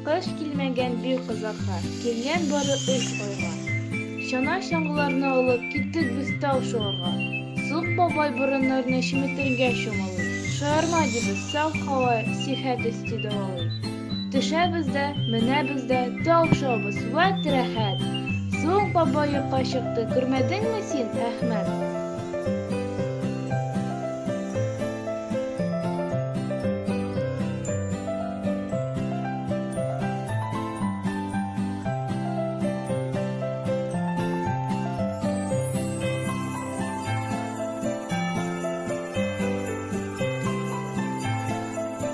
Кыш килмәгән бик озакка, килгән бары өч айга. Чана чаңгыларны алып, киттек без тау шуарга. Сук бабай борыннарны чеметергә чумалый. Шаярма дибез, сау кала, сихәт өсти дәвалый. Төшәбез дә, менәбез дә, тау шабыз, вәт рәхәт! Соң баба йока чыкты, күрмәдеңме син, Әхмәт?